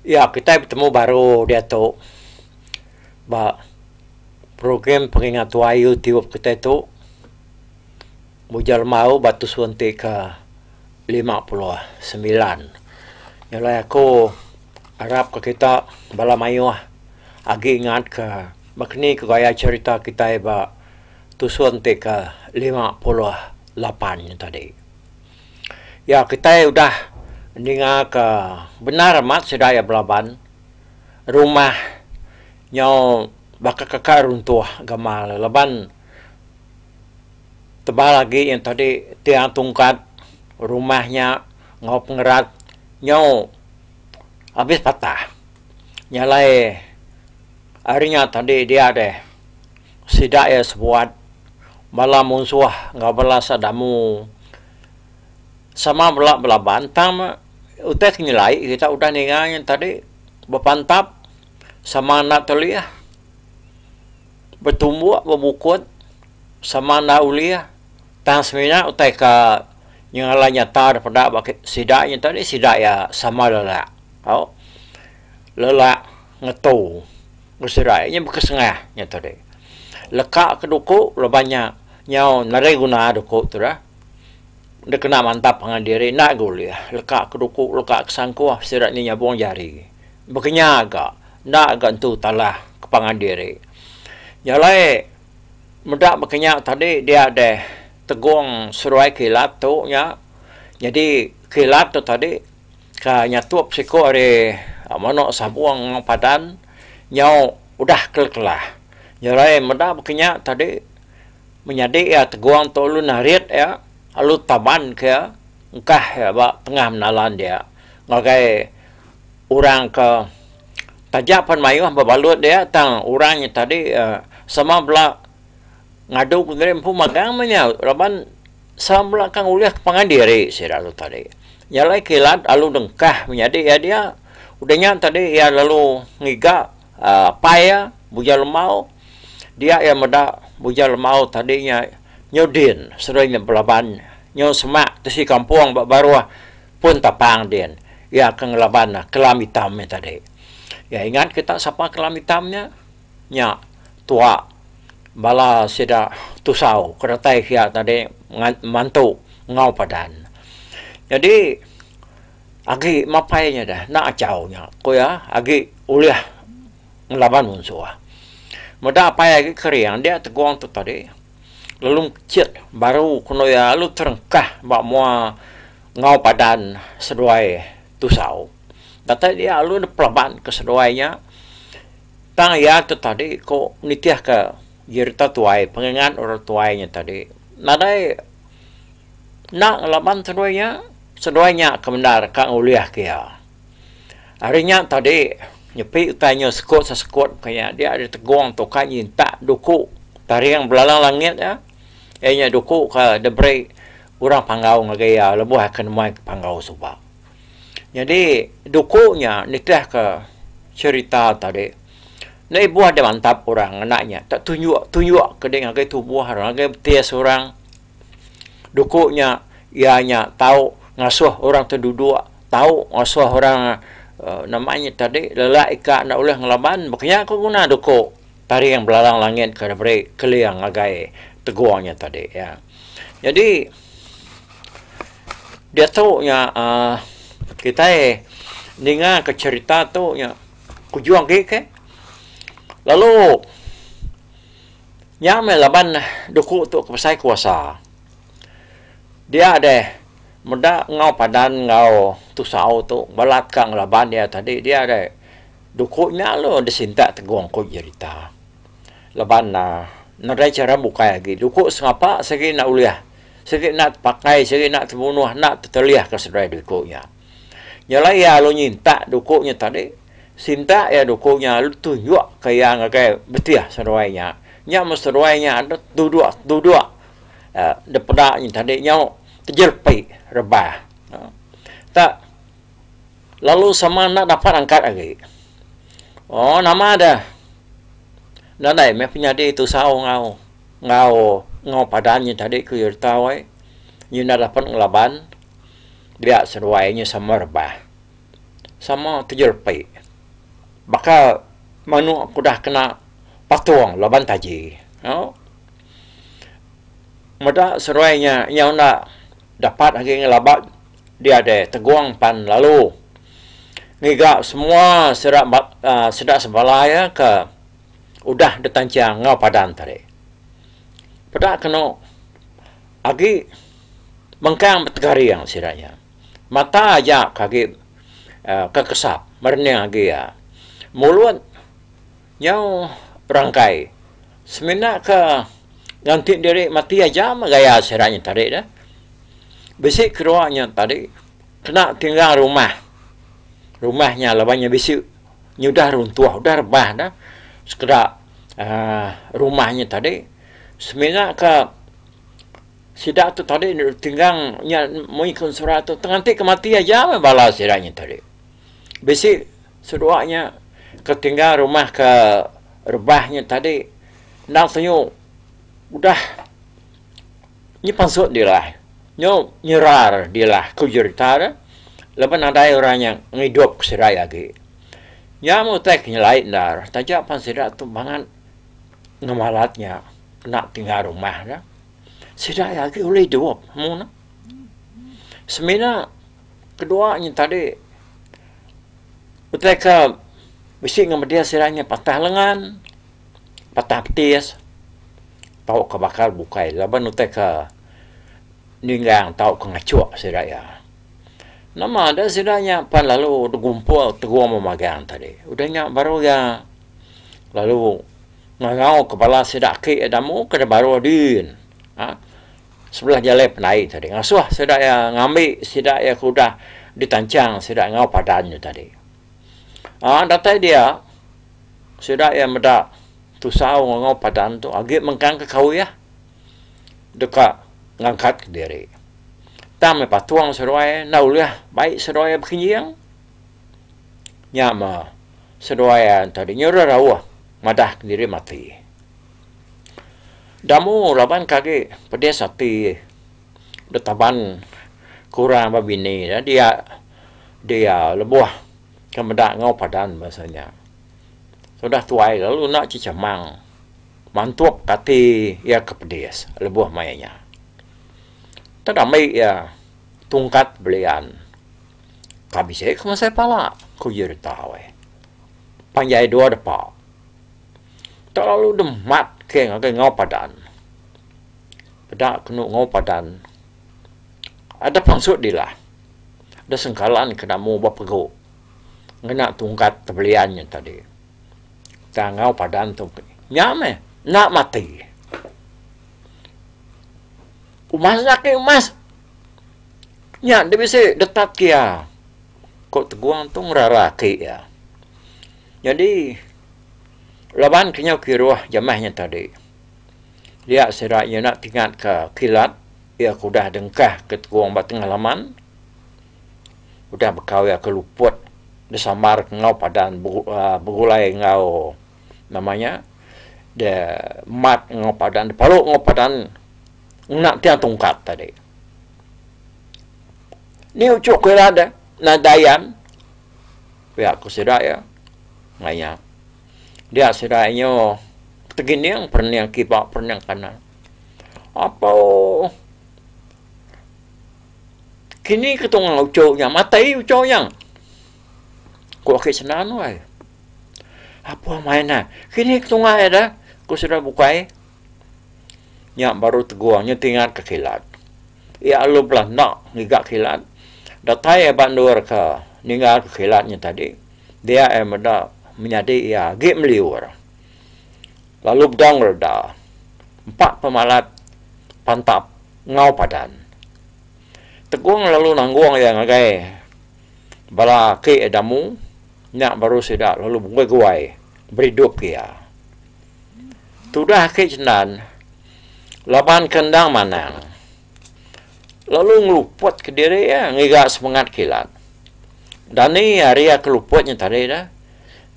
Ya, kitai betemu baru diatu ba program pengingat tuai tiup kitai tu mujur lemau ba tusun ti ke lima puluh semilan. Jalai aku arap ka kita bala mayuh agi ingat ka baka ni ka gaya cherita kitai ba tusun ti ke lima puluh lapan nya tadi. Ya kitai udah ninga ka bendar amat sida iya belaban rumah nyau baka kaka runtuh gamal ne laban tebal agi yang tadi tiang tungkat rumah nya enggau pengerat nyau abis patah nya alai ari nya tadi dia deh. Sida iya sebuat bala munsuh enggau bala sadamu sama bela belaban tang utai ke nyelai kita udah ninga nya tadi bepantap sama enda telih betumbuk bebukut sama enda ulih tang semina utai ka nyengalai nyata da peda ba sida nya tadi sida iya sama lelak tau lelak Ngetu. Usirai nya baka sengah nya tadi. Leka ke duku laban nya nyau nerei guna duku tu dah. Enda kena mantap pangan diri enda ga ulih. Leka ke duku leka ke sangkuh sida nya nyabung jari. Baka nya ga enda ga entu talah ke pangan diri. Nya alai meda baka nya tadi dia deh tegong seruai kilat tu nya. Nyadi kilat tu tadi. Ka nyatup siko ari mano sabong enggau padan nyau udah kelakelah nyerai meda bekenya tadi menyadi iya tegong tu alu narit iya alu taban ke iya engkah iya ba tengah menalan dia ngagai orang ke taja pen maioh bebalut dia tang orang nya tadi sama bela ngadu geri empu magang meh nya laban Sama bela kang ulih ke pangan diri sida tu tadi. Nya alai kilat alu dengkah menyadi iya dia. Udah nya tadi iya lalu ngiga apai iya Bujang Lemau. Dia iya meda Bujang Lemau tadi nya nyau din sering nya belaban nyau semak tisi kampung ba baruh Pun Tapang din. Iya ke ngelaban Kelam Itam nya tadi. Iya ingat kita sapa Kelam Itam nya? Nya, tua, bala sida tusau ke datai kiya tadi mantu enggau padan. Nyadi agi mapai nya deh enda achau nya ku iya agi ulih ngelaban munsuh. Meda apai agi kering dia tegong tu tadi lalu mechit baru kenu iya lalu terengkah ba mua enggau padan seduai tusau. Datai dia lalu depelaban ke seduai nya. Tang iya tu tadi ko nitihka jerita tuai pengingat orang tuai nya tadi nadai nang laban seduai nya, seduai nya ke bendar ka ngulihka iya. Ari nya tadi nyepi utai nya sekut sesekut bukai nya dia ari tegong tu ka nyintak duku taring belalang langit iya, iya nya duku ka diberi orang panggau ngagai iya lebuh iya ke nembuai ke panggau suba. Nyadi duku nya nitihka cherita tadi enda ibuh da mantap orang ngena nya ka tunjuk tunjuk ka dei ngagai tubuh orang ngagai betis orang duku nya iya nya tau ngasuh orang tu duduk tau ngasuh orang um nama nya tadi lelak ika enda ulih ngelaban ba kinya ku guna duku taring belalang langit ke diberi keling ngagai tegung nya tadi iya. Jadi diatu nya aaa kitai ninga ka cherita tu nya kujung agi ke lalu nya meh laban duku tu ke besai kuasa dia deh meda enggau padan enggau tusau tu balat ka ngelaban dia tadi dia deh duku nya lalu disintak tegong ku jerita. Laban na, nadai chara bukai agi duku sengapa sigi enda ulih, sigi enda tepakai, sigi enda temunuh enda tetelihka seduai duku nya. Nya alai iya alu nyintak duku nya tadi, sintak iya duku nya alu tunjukka iya ngagai betih seduai nya. Nya mun seduai nya adat duduk-duduk dipeda nya tadi nyau tejelpi rebah. Tak. Lalu sama enda dapat angkat agi. Oh nama deh. Nadai meh penyadi tusau enggau enggau enggau padan nya tadi ku iya deka wei. Iya enda dapat ngelaban dia seduai nya sama rebah. Sama tejerepi. Baka menu ke udah kena patung laban taji. Au. Meda seduai nya iya enda dapat agi ngelaban. Diada tegong pan lalu ngiga semua sida sida sebalai iya ke udah ditanchang enggau padan tadi. Peda kenu agi mengkang betegaring sida nya. Mata aja ke agi kekesap merening agi iya. Mulut nyau berangkai. Semina ke nganti diri mati aja meh gaya sida nya tadi dah. Bisi kedua nya tadi kena tinggal rumah. Rumah nya laban nya bisi nya udah runtuh udah rebah dah sekeda aaa rumah nya tadi semina ke sida tu tadi dulu tinggal nya meri ke surat tu nganti ke mati aja meh bala sida nya tadi. Bisi seduwa nya ke tinggal rumah ke rebah nya tadi endang tuju udah nyepansut dilah, nyu nyerar dilah ku jerita ne laban nadai orang nya ngidup seduai agi. Nya meh utai ke nyelai endar taja pan sida tu mangat ngemalat nya enda tinggal rumah ne, sida agi ulih idup mung ne. Semina Kedua nya tadi utai ke bisi enggau media sida nya patah lengan, patah petis tau ke bakal bukai laban utai ke ninggang tau ke ngachuk sida iya. Nama deh sida nya pan lalu begumpul tegum magang tadi. Udah nya baru iya lalu ngangau ke bala sida aki damu ke baru din. Sebelah jalai pendai tadi ngasuh sida iya ngambi sida iya ke udah ditanchang sida enggau padan nya tadi. Aaa datai dia sida iya meda tusau enggau padan tu agi mengkang ke kaul iya deka ngangkat ke diri. Tang meh patung seduai enda ulih bai seduai iya bekenjing. Nya meh seduai iya tadi nyuruh rauh madah ke diri mati. Damu raban ke agi pedis ati betaban kurang ba bini ne dia dia lebuh ke meda enggau padan bahasa nya. Udah tuai lalu enda chichamang mantuk ati iya ke pedis lebuh maya nya. Tang dami iya tungkat belian ka bisi ke masai pala ku Jeritau ai. Panjai dua depa. Tak lalu dem mat ke ngagai enggau padan. Peda kenu enggau padan adup pansut dilah da sengkalan ke namu ba pegu ngena tungkat tebelian nya tadi. Tang enggau padan tu nya meh enda mati. Umas enda kena umas. Nya da bisi detat ke iya, ku tegong tu ngerara aki iya. Nyadi. Laban kenyau kiruh jamah nya tadi, dia sida nyina tingatka kilat iya ke udah dengkah ke tegong ba tengah laman, udah bekau iya ke luput disambar ke enggau padan begulai enggau nama nya de mat enggau padan de palu enggau padan ngena tiang tungkat tadi. Ni uchu kilat nadai dayan. Pia ku sida iya. Ngai iya. Dia sida inyo tegining perening kiba perening kanan. Apo kini ke tunga uchu nya matai uchu nya. Ku aki sendang nuai. Apo main ne kini ke tunga ida ku sida bukai. Nya baru tegung nya ti ngatka kilat. Iya alu bela enda ngiga kilat. Datai iya ba endur ke ninggalka kilat nya tadi, dia iya meda menyadi iya agi meliur. Lalu bedau ngereda empa pemalat pantap enggau padan. Tegung lalu nanggung iya ngagai bala aki iya damu, nya baru sida lalu begui-gui beridup ke iya. Tudah ake cendan laban ke endang manang lalu ngeluput ke diri iya ngiga semengat kilat. Dani ari iya ke luput nya tadi dah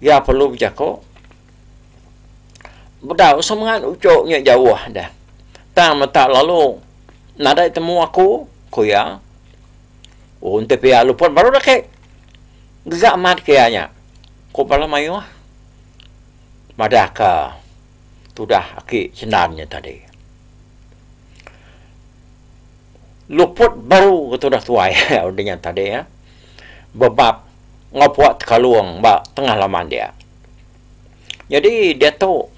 iya perlu bejaku bedau semengat uchu nya jauh dah tang meta lalu nadai temu aku ku iya. Oh enti pia luput baru dah ake gegamat ke iya nya ku bala mayuh. madahka tudah aki Cenan nya tadi. Luput baru ke tudah tuai udah nya tadi ya. Bebap ngepua tekalung ba tengah laman dia. Jadi diatu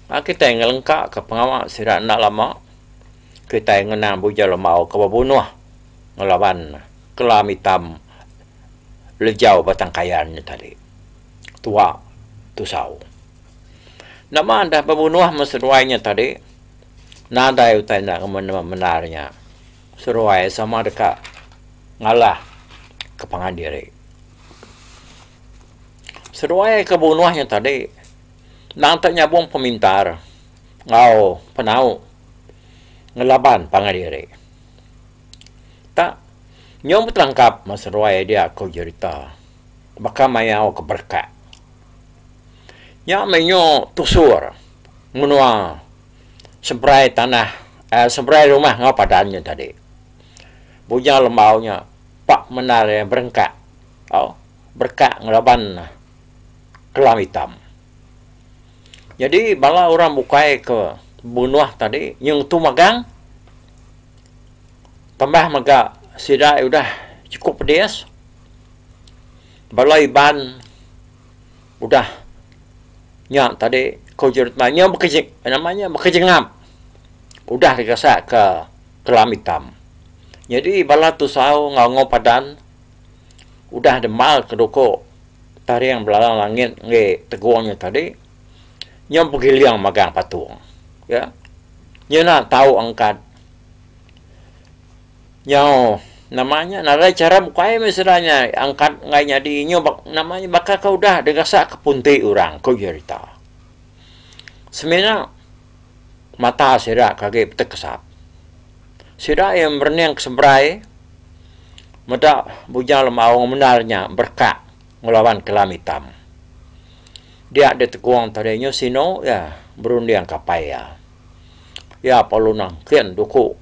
a kitai ngelengkaka pengawa sida enda lama kitai ngena Buja Lembau ke bebunuh ngelaban kelam itam lejau Batang Kayan nya tadi. tua tusau. Nama enda bebunuh men seruai nya tadi? Nadai utai enda ngemenung bendar nya. Seruai sama deka ngalah ke pangan diri. Seruai ke bunuh nya tadi nang te nyabung pemintar enggau penau ngelaban pangan diri. Tak nyau betelangkap men seruai dia ko jerita. baka mayau ke berekat. Nya meh nyu tusur menua seberai tanah eh seberai rumah enggau padan nyu tadi. Bujau lembau nya pa pemendar iya berengkak tau berekat ngelaban kelam itam. Nyadi bala orang bukai ke benuah tadi nyeng tu magang tambah mega sida udah chukup pedis Bala Iban udah nya tadi ku Jerutmai nya baka nama nya baka jengap udah digasak ka Kelam Itam. Nyadi bala tusau enggau Ngo Padan udah demal ka duko Taring Belalang Langit enggai Tegong nya tadi nya begiling magang patung. Nya ena tau angkat. Nyau, nama nya ngagai chara bukai meh sida nya angkat enggai nyadi inyu ba nama nya baka ke udah digasaka punti orang, ku Jerita. Semina mata sida ke agi betekesap. Sida iya merening ke seberai meda Bujang Lemaong mendar nya berekak ngelawan kelam itam. Dia ditegong tadi inyu sinu iya berunding ke apai iya. Iya parlu nangkin duku.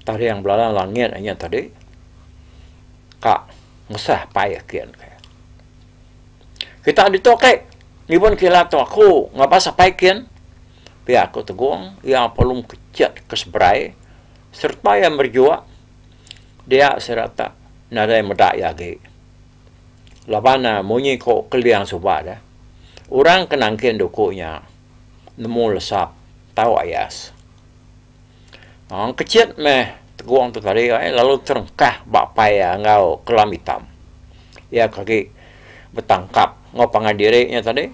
taring belalang langit inya tadi ka mesah pai ake engke. Kita ditu ake nyimpan kila tu aku ngabas apai kin pia aku tegong iya pelum kechet ke seberai sereta iya merejok dia sereta nadai meda iya agi laban ne munyi ko keling suba de orang ke nangkin duku nya nemu lesap tau ayas. Aang Kechit meh tegong tu tadi ai lalu terengkah ba apai iya enggau Kelam Itam. Iya ke agi betangkap enggau pangan diri nya tadi.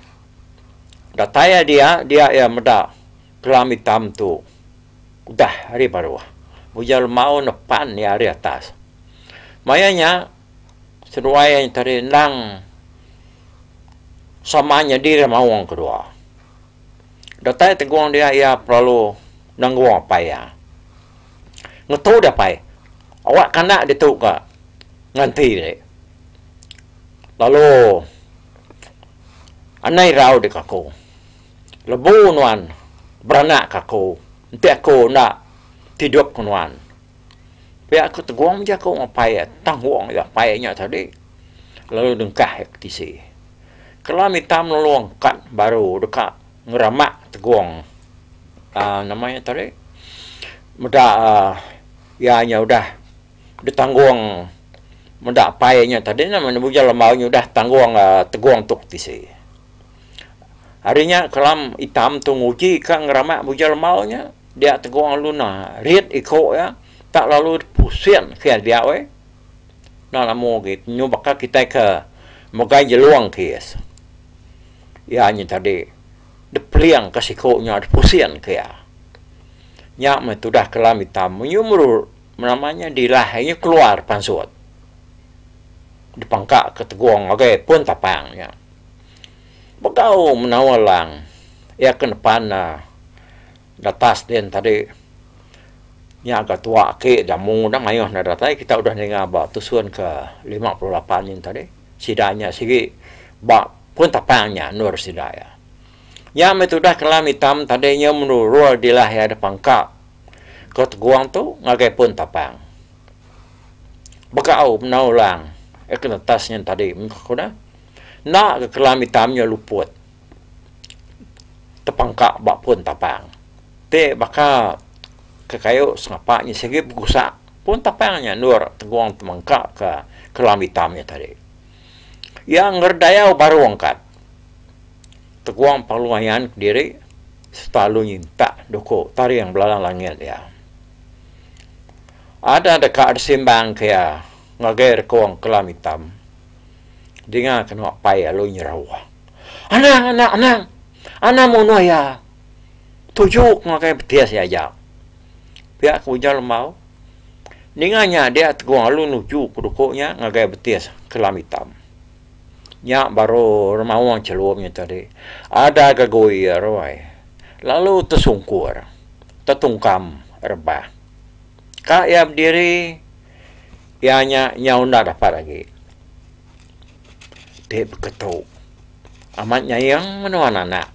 Datai iya dia, dia iya meda Kelam Itam tu udah ari baruh. Ujar lemaun ne pan iya ari atas. Maya nya seduai iya nya tadi endang sama nyadi lemaung kedua. Datai tegung dia iya perelu nenggung apai iya. Ngetu dia apai, awak kanak ditu ga nganti ri. Lalu anai rau deka aku. Lebu nuan beranak ka aku, enti aku enda tidup ku nuan. Pia aku tegung aja aku apai iya, tanggung aja apai iya nya tadi. Lalu dengkah iya ke tisi. Kelam ita melulung kad baru deka ngeramak tegong aaa nama iya tadi meda aaa iya nya udah ditanggong meda pai nya tadi ne men bujur lembau nya udah tanggong aaa tegong tok tisi. Ari nya kelam itam tu nguji ka ngeramak bujur lembau nya dia tegong alun nah rit iko iya tak lalu pusing kiya dia weh. Enda lemu agi nyu baka kitai ke megai jelung kis iya nyen tadi dipering ka siku nya dipusing ka iya. Nya meh tudah kelam itam munyi meru nama nya dilah iya keluar pansut dipangka ka tegong agai pun tapang nya. Begau menawa lang iya ke nepan ne Datas din tadi. Nya ga tua aki jamu udah mayuh enda datai kita udah ninga ba tusun ke lima puluh lapan nyin tadi. Sida nya sigi ba pun tapang nya endur sida iya. Nya meh tudah kelam itam tadi nyau menurul dilah iya deh pangka ke tegong tu ngagai pun tapang. Begau bendar orang ke netas nyin tadi meh ku neh. Enda ga kelam itam nya luput. tepengka ba pun tapang ti baka kekayu sengapa inya sigi begusa pun tapang nya endur tegong temengka ka kelam itam nya tadi. Iya ngerdayau baru angkat tegong pengeluaian kediri sereta lalu nyintak doku taring bala langit iya. Ada deka disimbang ke iya ngagai rekong kelam itam dinga kenu apai lalu nyerau. Anang, anang, anang! Anang munuh iya! Tuju ke ngagai betis iya aja. Pia ke ujar Lembau. Ninga nya dia Tegong lalu nuju ke duku nya ngagai betis Kelam Itam. Nya baru remaung chelum nya tadi. Ada gagoi iya ruai. Lalu tesungkur, tetungkam rebah. Ka iya bediri, iya nya nyau enda dapat agi. ti beketu. Amat nyayang nuan anak.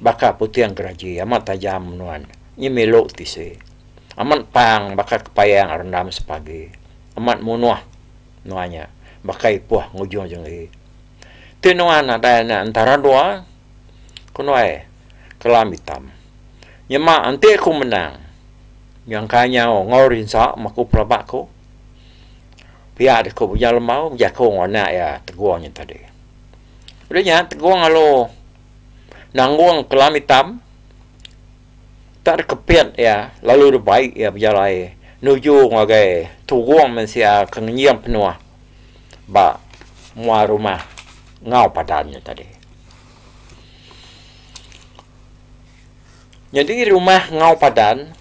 Baka puting geraji amat tajam nuan nyemilu tisi. Amat pang baka kepayang rendam sepagi. Amat munuh nuan nya baka ipuh ngujung jenggi. Ti nuan nadai anak entara dua ku nuai kelam itam. Nyema enti aku menang nyangka nyau enggau rinsa maku pelaba ku. Pia deh ku Bujang Lemau bejaku enggau anak iya Tegong nya tadi. Udah nya Tegong lalu nanggung kelam itam tak deh kepit iya lalu deh bai iya bejalai nuju ngagai Tugong mensia ke ngenying penuh ba mua rumah enggau padan nya tadi. Nyadi rumah enggau padan.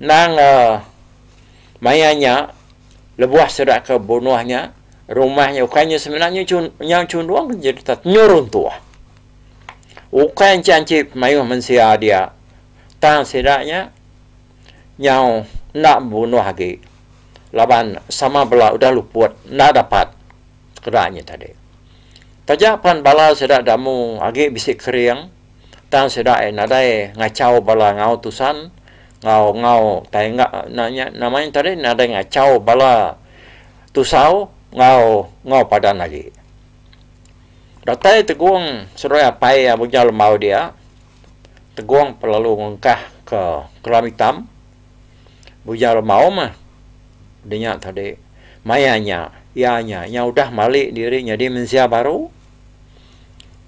Endang maya nya, lebuh sida ke bunuh nya, rumah nya ukai nya semina nyau chundung jereta tenyu runtuh. Ukai enche anchi pemayuh mensia dia, tang sida nya nyau enda bebunuh agi laban sama bela udah luput enda dapat keda nya tadi. Taja pan bala sida damu agi bisi kering. Tang sida ai nadai ngachau bala enggau tusan enggau enggau tai enggau nya nya nama nya tadi nadai ngachau bala tusau enggau enggau padan agi. Datai tegong seruai apai iya bujau lembau dia tegong lalu ngungkah ke kelam itam bujau lembau mah dinya tadi maya nya iya nya iya udah mali diri nyadi mensia baru.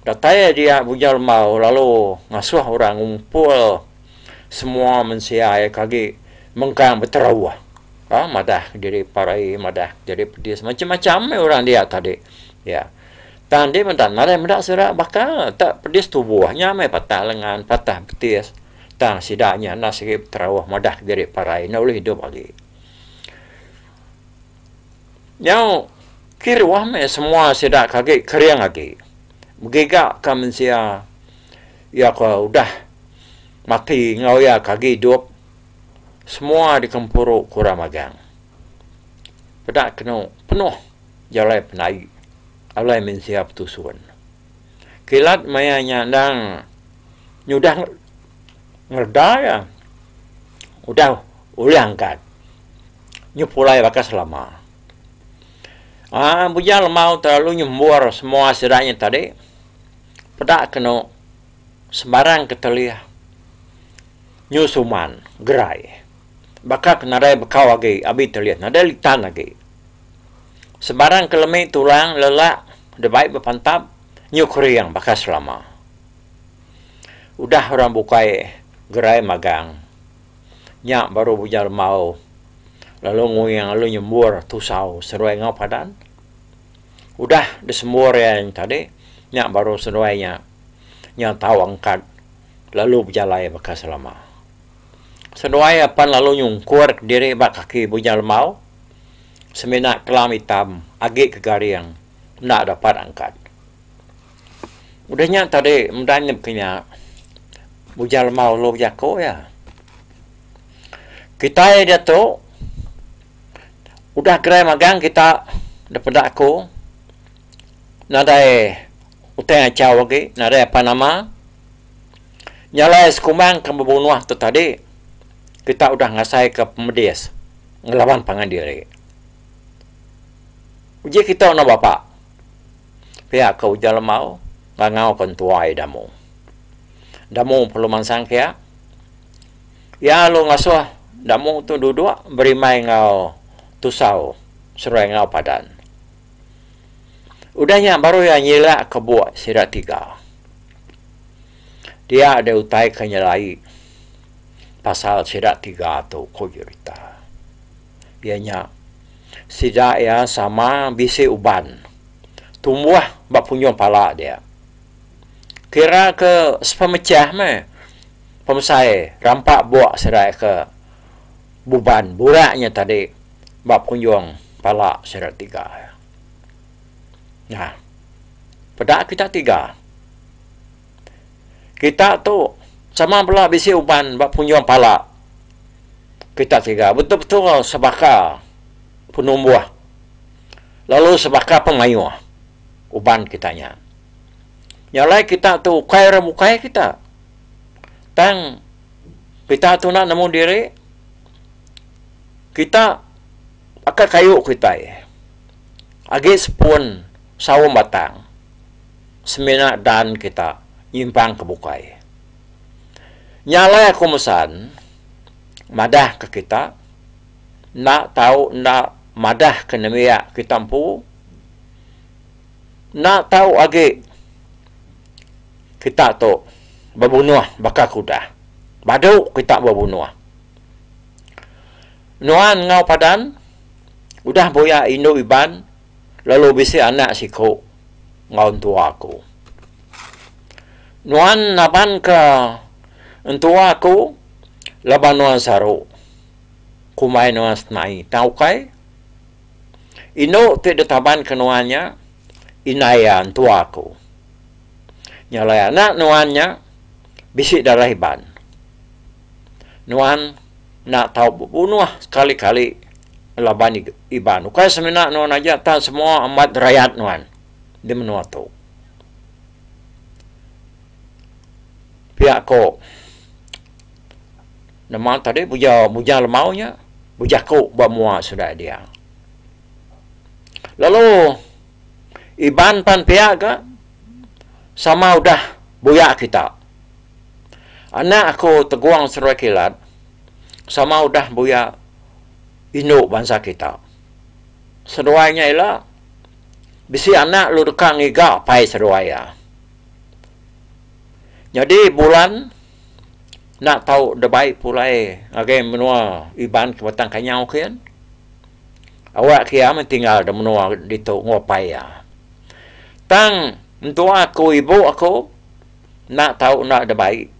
Datai iya dia Bujang Lembau lalu ngasuh orang ngumpul semua mensia iya ke agi mengkang beterauh ba madah diri parai madah diri pedis macam-macam meh orang dia tadi ya. Tang dih meda nadai meda sida baka te pedis tubuh nya meh patah lengan patah betis tang sida nya enda sigi beterauh madah diri parai enda ulih idup agi. Nyau kiruh meh semua sida ke agi kering agi. Begiga ka mensia iya ke udah mati enggau iya ke agi idup semua digempuru ke orang magang. Peda kenu penuh jalai penai alai mensia betusun. Kilat maya nya endang nyudah ngereda iya udah ulih angkat. nyu pulai baka selama. Aaa bujang lemau telalu nyembur semua sida nya tadi peda kenu sembarang ketelih nyu suman gerai baka ke nadai bekau agi abi telih nadai litan agi. Sembarang ke lemi tulang lelak deh bai bepantap nyu kering baka selama. Udah orang bukai gerai magang. Nya baru ujar Embau lalu nguing lalu nyembur tusau seruai enggau padan. Udah disembur iya tadi, nya baru seruai nya nya tau angkat lalu bejalai baka selama. Seruai iya pan lalu nyungkur diri ba kaki Bujang Embau semina kelam itam agi ke garing enda dapat angkat. Udah nya tadi meda nyebka nya ujar lemau ulu bejaku iya. Kitai diatu udah gerai magang kita daripada aku nadai utai achau agi nadai apan nama nya alai sekumbang ke bebunoh tu tadi kita udah ngasai ke pemedis ngelaban pangan diri. Uji kita enda bapa. Pia ke ujar Lemau ngangau ke entuai Damu. Damu perlu mansang kia. Ia lalu ngasuh Damu tu duduk berimai enggau tusau seruai enggau padan. Udah nya baru ia nyilak ke buk sida tiga. Dia deh utai ke nyelai pasal sida tiga tu, ku Jurita. Iya nya. Sida iya sama bisi uban tumbuh ba punyoh pala dia. Kira ke sepemechah meh pemesai rampa buk serai ke buban burak nya tadi ba punjong pala sida tiga iya. Nah, peda kita tiga. Kita tu sama bela bisi uban ba punjung pala kita tiga betul-betul sebaka penumbuh lalu sebaka pemayuh uban kita nya. Nya alai kita tu ukai orang bukai kita. Tang kita tu enda nemu diri kita aka kayu kitai agi sepun saum batang. semina dan kita nyimpang ke bukai. Nya alai aku mesan madah ke kita enda tau enda madah ke nembiak kita empu enda tau agi kita tu bebunuh baka ke udah. Badu kita bebunuh. Nuan enggau padan udah buyak indu Iban. lalu bisi anak siku enggau entua aku. Nuan nabanka entua aku laban nuan saru kumbai nuan senai. Tau ukai? Indu ti ditabanka nuan nya indai iya entua aku. Nya alai anak nuan nya bisi darah Iban. nuan enda tau bebunuh sekali-kali laban Iban. Ukai semina nuan aja tang semua amat rayat nuan di menua tu. Pia ko nama tadi bujang bujang lemau nya bejaku ba mua sundai dia. Lalu Iban pan pia ga sama udah buyak kita. Anak aku Tegong Seruai Kilat sama udah buya indu bansa kita. Seruai nya ila bisi anak lalu deka ngiga pai seruai iya. Nyadi bulan enda tau da bai pulai ngagai menua Iban ke Batang Kanyau ke yen. Awak ke iya meh tinggal da menua ditu nguap pai iya. Tang mentua aku ibu aku. Enda tau enda da bai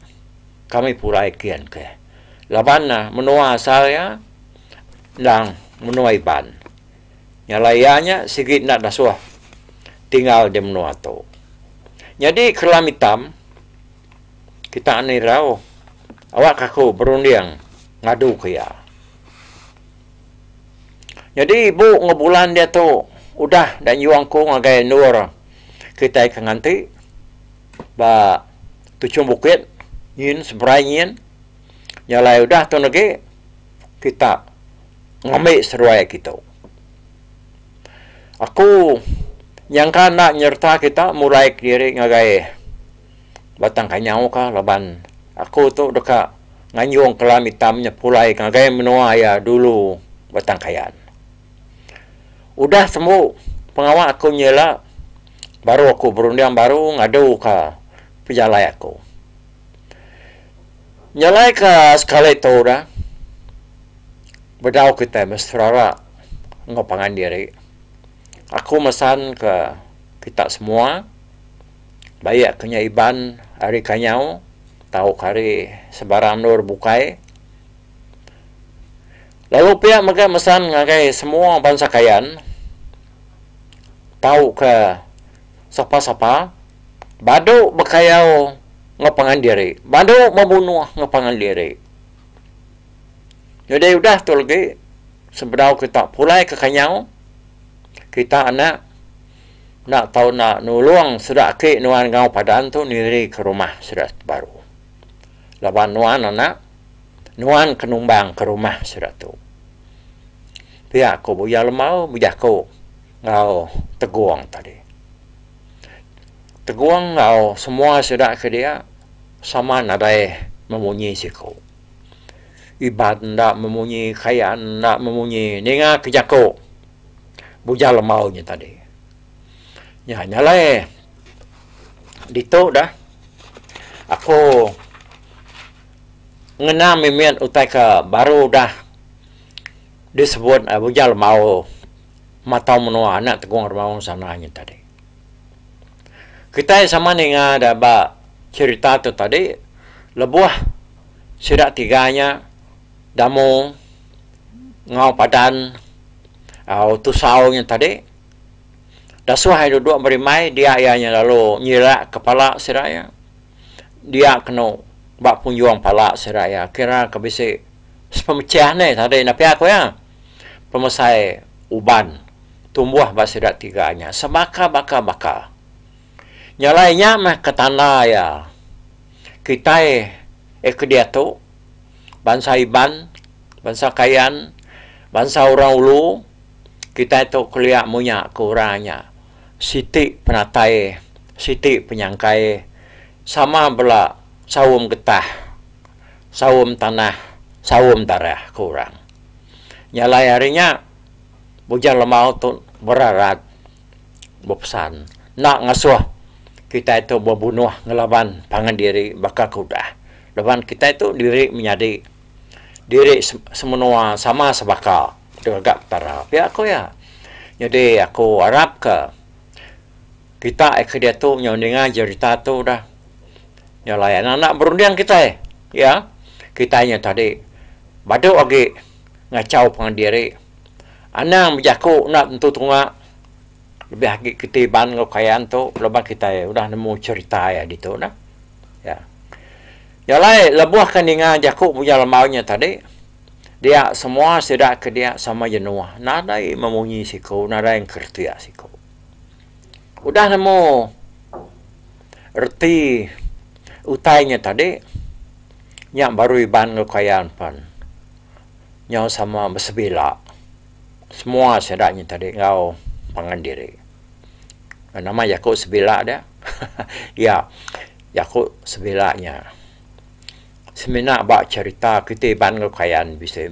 kami pulai kian ke. Laban ne menua asal iya endang menua Iban. Nyalai iya nya sigi enda dasuh tinggal di menua tu. Nyadi kerelam itam kita ni irau awakka aku berunding ngadu ke iya. Nyadi ibu enggau bulan diatu udah enda nyuang aku ngagai endur kitai ke nganti. ba tuchung bukit nyin seberai nyin nya alai udah tu negi kita ngambi seduai agi tu. Aku nyangka enda nyereta kita mulai kediri ngagai Batang Kanyau ka laban aku tu deka nganjung Kelam Itam nya pulai ngagai menua iya dulu Batang Kayan. Udah tembu pengawa aku nyela. baru aku berunding baru ngadu ka pejalai aku. Nyelai ka sekali tu dah bedau kitai meh serara enggau pangan diri aku mesan ka kita semua baie ka nya Iban ari kanyau tau ka ari sebarang endur bukai lalu pia mega mesan ngagai semua bansa kayan tauka sapa-sapa badu bekayau enggau pangan diri, badu bebunuh enggau pangan diri. Jadi udah tu agi sebedau kita pulai ke kanyau kita enda enda tau enda nulung sida ake nuan enggau padan tu niri ke rumah sida ti baru. Laban nuan enda nuan ke numbang ke rumah sida tu. Pia ku Buya Lemau bejaku enggau Tegong tadi. Tegong enggau semua sida ke dia sama nadai memunyi siku. Iban enda memunyi, Kayan enda memunyi ninga ke jaku Buya Lemau nya tadi. Nya nyalai ditu dah aku ngena mimit utai ke baru udah. disebut Bujang Lembau matau menua anak Tegong Remaung sana nyin tadi. Kitai sama ninga da ba cherita tu tadi lebuh sida tiga nya Damu enggau Padan au Tusau nyin tadi dasuh iya duduk berimbai dia iya nya lalu nyilak kepala sida iya dia kenu ba punjung pala sida iya kira ke bisi Sepemechah neh tadi nya pia ku iya, pemesai uban tumbuh ba sida tiga nya sebaka-baka-baka. Nya alai nya meh ke tanda iya kitai eh ke diatu bansa Iban, bansa Kayan, bansa Orang Ulu kitai tu kelia munya ke orang nya siti penatai, siti penyangkai sama bela saum getah. saum tanah, saum darah ke orang. Nya alai ari nya, Bujang Lemau tu berarat bepesan enda ngasuh kitai tu bebunuh ngelaban pangan diri baka ke udah. Laban kitai tu diri menyadi, diri semenua sama sebaka ngaga Petara. Pia ku iya. Nyadi aku arapka kitai ke diatu nyau ninga jerita tu udah. Nya alai anak-anak berunding kitai, iya, kitai nya tadi badu agi ngachau pangan diri, anang bejaku enda tentu tunga lebih agi kitai iban enggau kayan tu laban kitai udah nemu cherita iya ditu nah. Iya. Nya alai lebuhka ninga jaku Munya Lamau nya tadi, dia semua sida ke dia sama jenuh nadai memunyi siku, nadai ngeretik siku. Udah nemu reti utai nya tadi, nya baru Iban enggau Kayan pen nyau sama besebila semua sida nya tadi enggau pangan diri. Nama jaku sebila dia? Iya, jaku sebila nya. semina ba cerita kiti iban enggau kayan bisi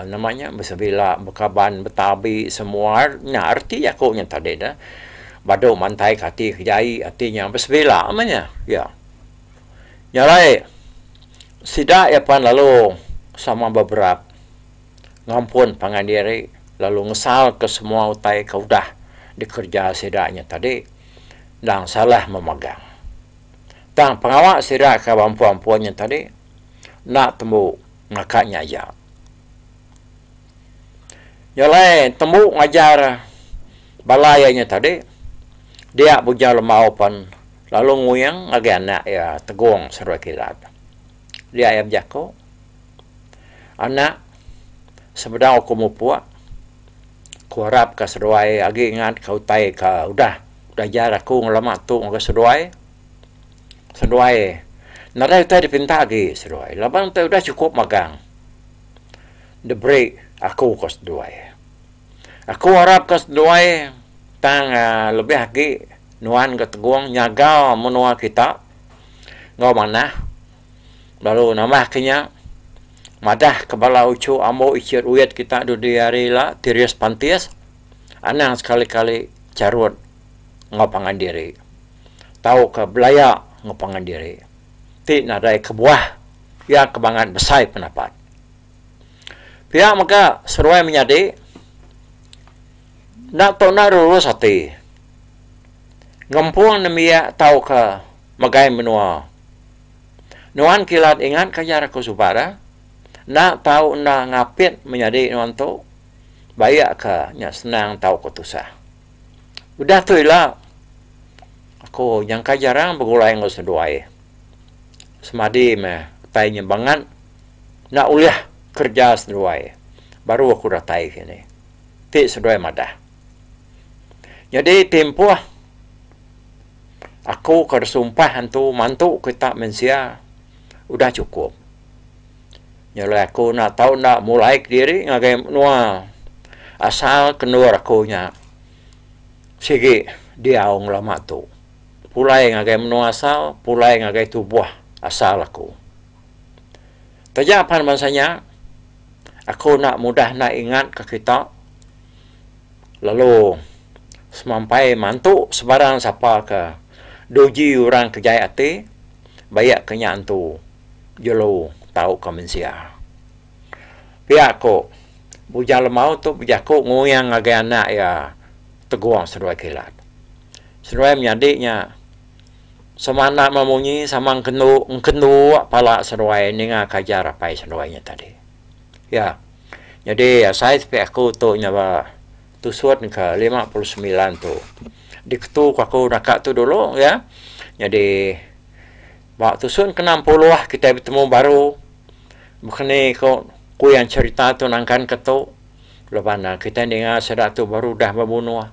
nama nya besebila bekaban betabi semua nya reti aku nya tadi ne badu mantai ka ati ke jai ati nya besebila meh nya ya nya alai sida iya pan lalu sama beberat ngampun pangan diri lalu ngesal ke semua utai ke udah dikereja sida nya tadi endang salah memagang. Tang pengawa sida ke ba empu-empu nya tadi enda tembu naka nya aja. Nya alai tembu ngajar bala iya nya tadi dia Bujau Lemau pen lalu nguing ngagai anak iya Tegong Serue Kilat. Dia iya bejaku, Anak, sebedau aku mupuk, aku arapka seduai agi ingatka utai ke udah. Belajar aku ngelama tu ngagai seduai, seduai nadai utai dipinta agi seduai laban utai udah chukup magang diberi aku ko seduai. Aku arap ko seduai tang aaa lebih agi nuan ko tegong nyaga menua kita enggau manah lalu nambah ke nya madah ke bala uchu ambo ichit uyit kita dudi hari ila Tirius Pantis. Anang sekali-kali charut enggau pangan diri tauka belaya enggau pangan diri ti nadai kebuah iya ke bangat besai pendapat. Pia mega seruai menyadi enda tau enda lurus ati ngempung nembiak tauka megai menua. Nuan kilat ingatka jar aku suba dah enda tau enda ngapit menyadi nuan tu. Bayakka nya senang tauka tusah. Udah tu ila, aku nyangka jarang begulai enggau seduai. Semadi meh utai nya bangat enda ulih kereja seduai baru aku datai sini, ti seduai madah. Nyadi timpuh aku ke sumpah antu mantu kita mensia udah chukup. Nyelai aku enda tau enda mulai kediri ngagai menua asal kendur aku nya sigi diau ngelama tu pulai ngagai menua asal pulai ngagai tubuh asal aku. Taja pan bansa nya aku enda mudah enda ingat ka kita lalu semampai mantu sebarang sapa ka duji orang ke jai ati bayak ka nya antu. jelu tauka mensia. Pia ku Bujang Lemau tu bejaku nguing ngagai anak iya Tegong Seduai Kilat. Seduai menyadi nya semana meh munyi sama engkendu engkendu pala seduai ninga ke ajar apai seduai nya tadi. Ya. Nyadi asai sepi aku tu nya ba tusun ke lima puluh semilan tu diketuka aku naka tu dulu ya. Nyadi. Ba tusun kena empuluh kitai betemu baru bekeni ko kuyan cerita tu nangkan ke tu laban ne kitai ninga sida tu baru udah bebunuh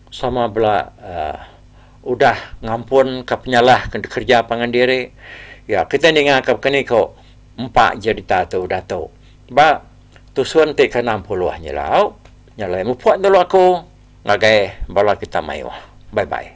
sama bela uhh udah ngampun ka penyalah ke dikereja pangan diri ya kitai ninga ka bekeni ko empa jerita tu udah tu ba tusun ti kena empuluh nyilau nya alai mupuk lalu aku ngagai bala kita mayuh bye bye.